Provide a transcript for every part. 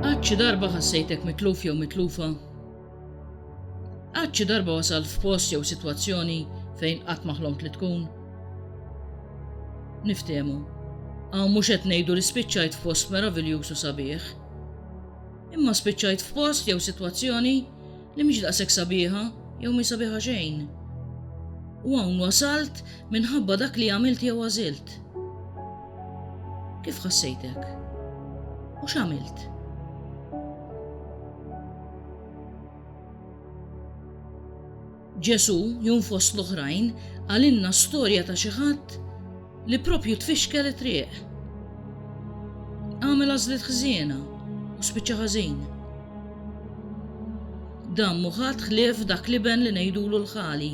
Għad xi darba ħassejtek mitluf jew mitlufa? Għad xi darba wasalt f'post jew sitwazzjoni fejn qatt ma ħlomt li tkun? Niftehmu, hawn mhux qed ngħidu li spiċċajt f'post meraviljuż u sabiħ. Imma spiċċajt f'post jew sitwazzjoni Li mhix daqshekk sabiħa jew mhi sabiħa xejn. U hawn wasalt minħabba dak li għamilt jew għażilt. Kif ħassejtek? U x'għamilt? Ġesu, jum fost l-oħrajn, għalinna storja ta' xi ħadd Li proprju tfixkel it-triq. Għamel għażliet ħżiena u spiċċa ħażin. Dan mhu ħadd ħlief dak l-iben li ngħidulu l-Ħali,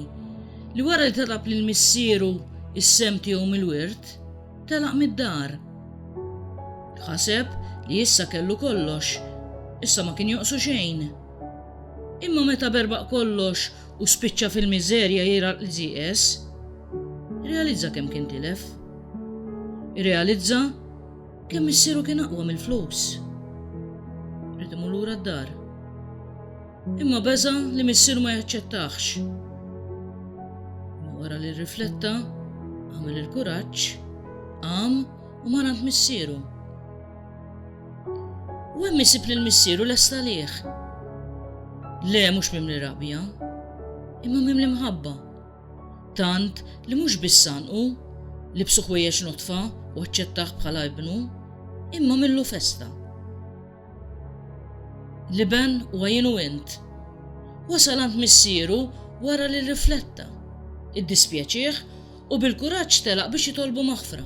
li wara li telab lil missieru s-sehem tiegħu mill-wirt, telaq mid-dar. Ħaseb li issa kellu kollox, issa ma kien jonqsu xejn. Imma meta berbaq kollox u spiċċa fil-miżerja jgħiraq l-GS, irrealizza kemm kien tilef. Irrealizza kemm missieru kien aqwa mill-flus. Rid imur lura d-dar. Imma beża li missieru ma jaċċettax. Wara li rrifletta, għamel il-kuraġġ, qam u marant missieru. U hemm isib lil missieru lest għalih. Le mhux mimli rabja, imma mimli mħabba. Tant li mhux biss sanqu, libsu ħwejjeġ notfa u aċċettah bħala ibnu, imma millu festa. Liben u għajinu int. Wasal għand missieru wara li rifletta, iddispjaċih u bil-kuraġġ telaq biex jitolbu maħfra.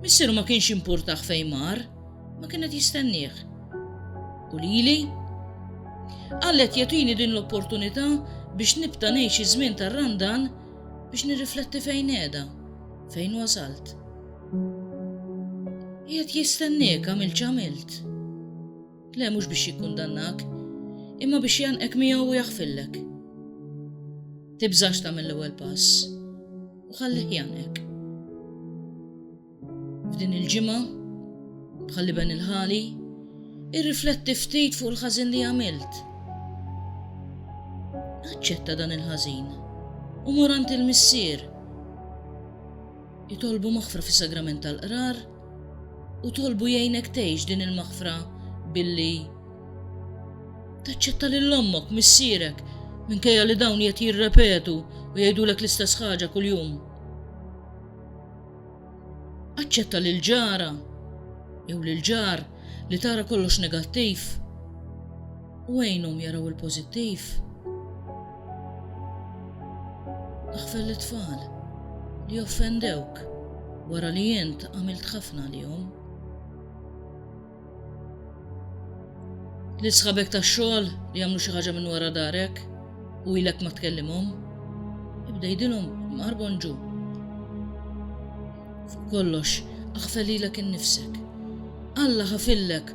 Missieru ma kienx impurtaħ fejn mar, ma kien qed jistennieh. U lili? Għallet jatini din l-opportunità biex nibta ngħix iż-żmien tar-randan biex nirrifletti fejn qiegħda, fejn wasalt. Qiegħed jistenniek għamilt x'għamilt. Le, mhux biex jikkundannak, imma biex jgħannqek miegħu u jaħfirlek. Tibżax tagħmel l-ewwel pass u ħallih jgħannqek. F'din il-ġimgħa, bħalli ben il-ħali, irrifletti ftit fuq il-ħażin li għamilt. Aċċetta dan il-ħażin u morant il-missier Itolbu maħfra fis-Sagrament tal-Qrar u tolbu jgħinek tgħix din il-maħfra billi taċċetta lil ommok, missierek, minkejja li dawn qed jirrepetu u jgħidulek l-istess ħaġa kuljum. Aċċetta lil ġara jew lil ġar li tara kollox negattiv. u għinhom jaraw il-pożittiv. Aħfer lit-tfal li offendewk wara li int għamilt ħafna għalihom. Li sħabek tax-xogħol li jagħmlu xi ħaġa minn wara darek u ilek ma tkellimhom, ibda jidilhom marbon ġu. Kollox, aħfer lilek innifsek. Alla ħafillek